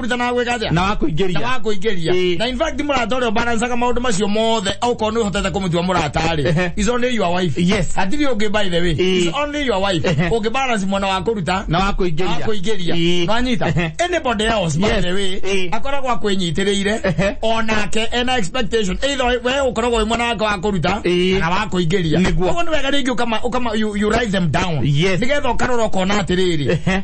kũruta na gwĩka atĩa na wakũingĩria na wakũingĩria Ĩĩ. na in fact mũrata ũrĩa ũbarancaga maũndũ macio mothe okorwo nĩ ũhotete kũmũtua mũrata-rĩ Ehe. is only your wife Yes. hatirĩ ũngĩ by the way Ĩĩ. is only your wife Ehe. ũngĩ balance mwana wa kũruta na wakũingĩria akũingĩria Ĩĩ. nwanyita Ehe. anybody else by Yes. the way Ĩĩ. akoragwo akwĩnyitĩrĩire Ehe. onake ena expectation either we ũkoragwo wĩ mwana wake wa kũruta Ĩĩ. kana wa kũingĩria Nĩguo. Koguo nĩ wega rĩngĩ ũkama- ũkama- you- you write them down Yes. nĩgetha ũkarora ũkona atĩrĩrĩ Ehe.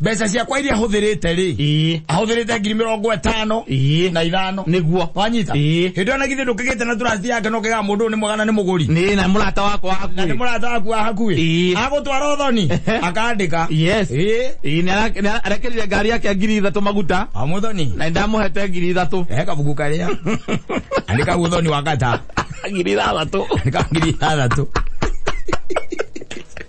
mbeca ciakwa iria hũthĩrĩte rĩ ĩĩ ahũthĩrĩte ngiri mĩrongo ĩtano Ĩĩ. na ithano nĩguo wanyita Ĩĩ. hĩndĩ ĩyo na githĩ ndũkĩgĩte na turaciti yake no kĩgaga mũndũ ũyũ nĩ mwega na nĩ mũgũri nĩ na mũrata wakwa hakuĩ. na nĩ mũrata waku wa hakuĩ Ĩĩ. agũtwara ũthoni Ehe. akandĩka yes Ĩĩ. Ĩĩ, nĩ ara- nĩ ara- arekereire ngari yake ngiri ithatũ maguta amũthoni na ndamuhete ngiri ithatũ he kabuku karĩa nĩ kau ũthoni wa gata ngiri ithathatũ nĩ kau ngiri ithathatũ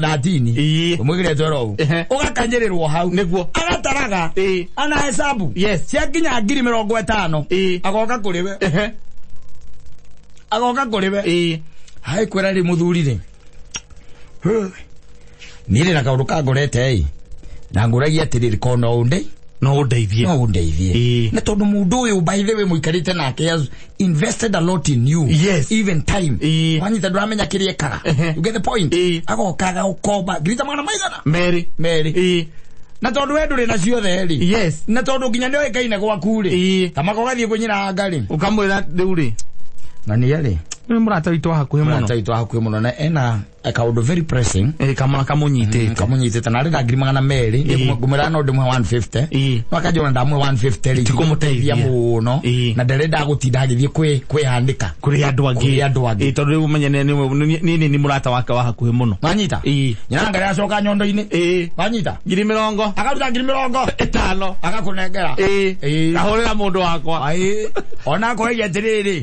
thatini Ii. mwikire twerou Ehe. ugakanyĩrĩrwo hau Nĩguo. agataraga Ii. ana hesabu Yes. ciakinya ngiri mĩrongo ĩtano Ii. agoka kũrĩ we Ehe. agoka kũrĩ we Ĩĩ. hai kwĩra rĩ mũthuri rĩ Huh. niĩ rĩ na kaũndũ kangorete ĩ na ngũragia atĩrĩrĩ kona ũndĩ no ũndeithie no ũndeithie Ĩĩ. nĩ tondũ mũndũ ũyũ by the way mũikarĩte nake as- invested a lot in you Yes. even time Ĩĩ. wanyita ndũramenya kĩrĩa ekaga Ehe. you get the point Ĩĩ. agokaga ũkomba ngirita magana maigana merĩ merĩ Ĩĩ. na tondũ we ndũrĩ na ciothe rĩ yes na tondũ nginya nĩ oĩ kaine gwaku rĩ Ĩĩ. kamaka ũgathiĩ kũnyiranga rĩ ũkamwĩra rĩu rĩ na nĩ rĩ nĩ mũrata witũ wa hakuhĩ mũno mũrata witũ hakuhĩ mũno na ena kaundu very pressing Eh, kamwana kamunyitite kamunyitite na rira ngiri magana meri Ĩĩ. ngumira no ndimwe 150 Ĩĩ. no akajona ndamwe 150 ri Tikũmũteithia. muno Ĩĩ. na ndere ndagutinda agithie kwi kwihandika kuri andu angi Kũrĩ andũ angĩ. Eh, tondu riu menye ni- ni- ni- ni ni murata wake wa hakuhi muno manyita Ĩĩ. nyina ngari acoka nyondo-ini Eh, manyita ngiri mirongo akaruta ngiri mirongo itano akanengera Eh, ahurira mundu wakwa Aĩ, ona akoiria atĩrĩrĩ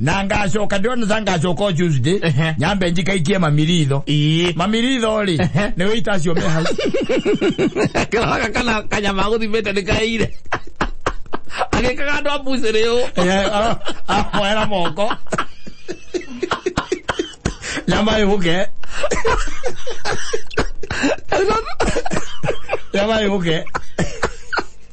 na ngacoka ndona ta ngacoka tuesday Ehe. nyambe njikaikie mamiritho ii mamiritho rĩ Ehe. nĩ wĩita acio me hau kĩroga kana kanyama gũthimĩte nĩ kaire agĩkaga andũ a mbucĩrĩ ũ Eh, ah, ah, moera moko nyama ĩgũke nyama ĩgũke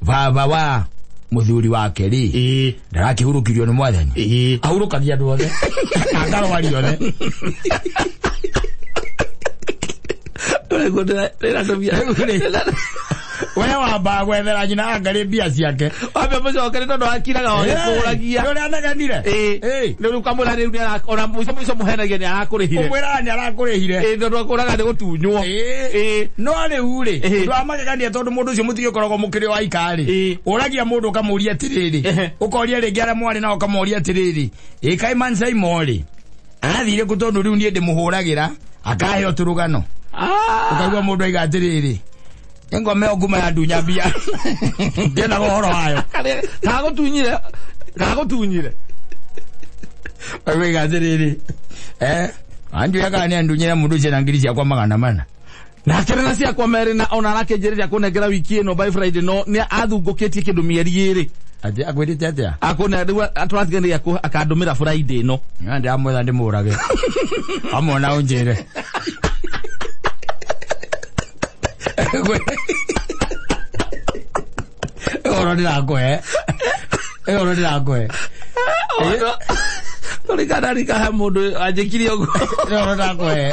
baba wa muthuri wake ri ĩĩ ndarakihurukirio ni mwathani ĩĩ ahurukagia andu othe akarwari othe we wamba gwethera nyina angari mbia ciake wambe mucokere tondu akiraga oge kuguragia uria anegenire Ĩĩ. riu ukamwira riu ona muico muico muhenagia ni arakurihire umwira ni arakurihire tondu akuraga ni gutunywo no riu ri Ĩĩ. ndania tondu mundu ucio mutige ukoragwo mukiri wa ikari Ĩĩ. uragia mundu ukamuria atiriri Ehe. ukoria ringi aria mwari nao ukamuria atiriri ikai man simon arathire ku tondu riu nie ndimuhuragira akahe uturugano Ah, ukaigua mundu aiga atiriri engome nguma ya ndunya mbia ndienda guhoro wayo kagutunyire kagutunyire aiga atiriri eh anjuya kana ni andunyira mundu ucio na ngiri ciakwa magana mana na akĩrĩ na ciakwa merĩ na ona arakĩnjĩrĩria kũnengera wiki ĩno by friday no nĩ athungũkĩtie kĩndũ mĩeri ĩrĩ Ati akwirite atia? akũne rĩu tũratiganĩria kũ- akandũmĩra friday ĩno Nga ndamwetha ndimurage. Amwona unjire. Oro ndirakwe. Oro ndirakwe. tũrikana rikahe mũndũ anjĩkire ũguo Oro ndirakwe.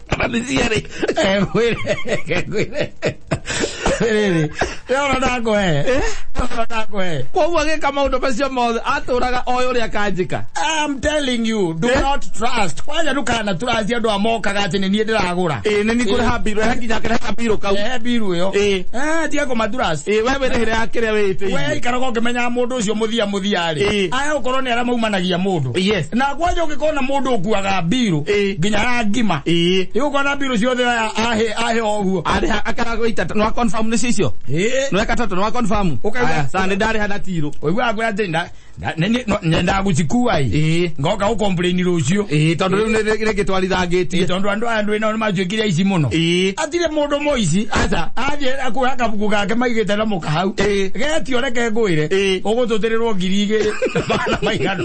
Panisiyari. Eh, kweli. Eh, kweli. Rĩrĩ, we ona ndakũhe ona ndakũhe koguo agĩka maũndũ macio mothe atũraga oĩ ũrĩa kanjĩka I'm telling you, do Eh? not trust. Kwanja ndukana trust andå a mokaga atä nä niä ndä ragå ä nä nikũrĩha mbirũ he nginya kĩrĩha mbirũ kau ra biru ä yo Ĩ. tiga kå maturasi ä we wĩrĩhĩre ya kĩrĩa we wĩtĩirie ikaraga å kä menyaga må ndå å cio må thia må thia rä Ĩ. aya å korwo nä arä a maumanagia må ndå Yes. na kwanja ũngĩkona mũndũ ũkuaga mbirũ Ĩĩ. nginya ya ngima Ĩĩ. ĩgũkona mbirũ ciothe aya ahe ahe o ũguo Arĩha akaragoita nĩ wa confirm nĩ cicio. Ĩĩ. Nĩ weka toto nĩ wa confirm. Ũkauga- Aya, Sasa nĩ ndarĩha na tiro. ũiguaga kwĩra atĩ nda- nda- nĩ- nĩ- no- nyendaga gũcikua ĩ Ĩĩ. ngoka gũkomplaini rũciũ Ĩĩ tondũ rĩu nĩ- nĩ- nĩ Ĩĩ, gĩtwarithangĩtie. tondũ andũ aya ndwĩ nao nĩ manjuĩkire aici mũno Ĩĩ. atire mũndũ mũici Aca. athiĩ akuoya kabuku gake maigĩte na mũkahau Ĩĩ. getio reke ngwĩre Ĩĩ. ũgũtũtĩrĩrwo ngiri igĩrĩ na magana maigana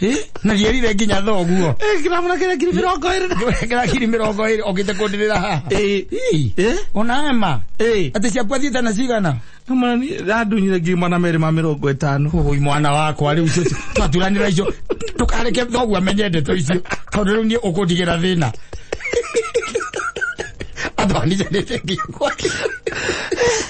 Eh? na gierire nginya thoguo Eh, kĩrabu na kĩrĩa ngiri mĩrongo ĩrĩ na kĩra kiri mirongo ĩrĩ okite kundĩrĩra haha Eh. Ii. Eh? ona ema Eh. atĩ ciakwa thiĩte na cigana Mwana niĩ randunyire ngiri mana merĩ ma mĩrongo ĩtano ui mwana wakwa rĩu icio twaturanĩra icio ndũkareke thoguo amenye ndeto icio tondũ rĩu niĩ ũkũndigĩra thĩna andũ andijanĩte nginya gwake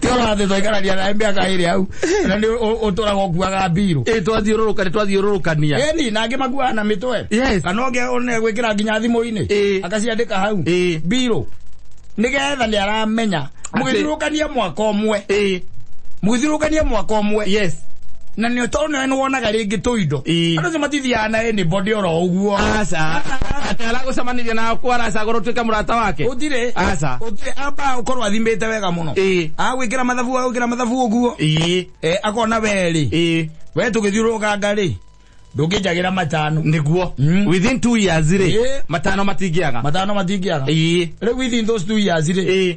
ti ũrathiĩ twaikarania nawe mĩaka ĩrĩ hau na nĩ ũtũraga ũkuaga mbirũ ĩ twathiũrũrũka nĩ twathiũrũrũkania eni na angĩ makuaga na mĩtwe Yes. kana ũngĩ one gwĩkĩra nginya thimũ-inĩ Ĩ. akaciandĩka hau Ĩ. mbirũ nĩgetha nĩ aramenya mũgĩthirũkania mwaka ũmwe ĩ mũgĩthirũkania mwaka ũmwe yes na nĩ tondũ na nĩ wonaga rĩngĩ tũindo Ĩĩ. andũ acio matithiaga na anybody oro ũguo aca atĩ aragũcemanirie na ku aracagũra ũtuĩke mũrata wake ũtirĩ aca ũtirĩ amba ũkorwo athimĩte wega mũno Ĩĩ. agwĩkĩra mathabu agwĩkĩra mathabu ũguo ĩĩ Eh, akona werĩ ĩĩ we tũgĩthiũrũrũkanga rĩ ndũngĩnjagĩra matano nĩguo Mm. within two years rĩ Ĩĩ. matano matingĩaga matano matingĩaga ĩĩ rĩu within those two years rĩ ĩĩ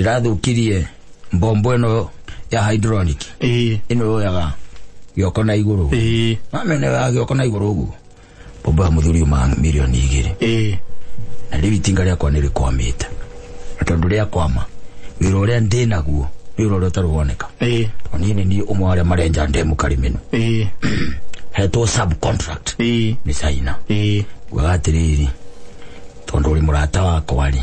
ĩrathũkirie mbombo ĩno ya hydronic ĩĩ ĩno yoyaga gĩoko na igũrũ ĩĩ mamene ya gĩoko na igũrũ ũguo mbombo ya mũthuri uma milioni igĩrĩ ĩĩ na rĩu itinga rĩakwa nĩ rĩkwamĩte na tondũ rĩakwama wĩra ũrĩa ndĩ naguo nĩ wĩra ũrĩa ũtarĩ woneka ĩĩ tondũ niĩ nĩ niĩ ũmwe wa arĩa marenja ndemu karimenu ĩĩ hetwo subcontract ĩĩ nĩ caina ĩĩ nguaga atĩrĩrĩ tondũ ũrĩ mũrata wakwa rĩ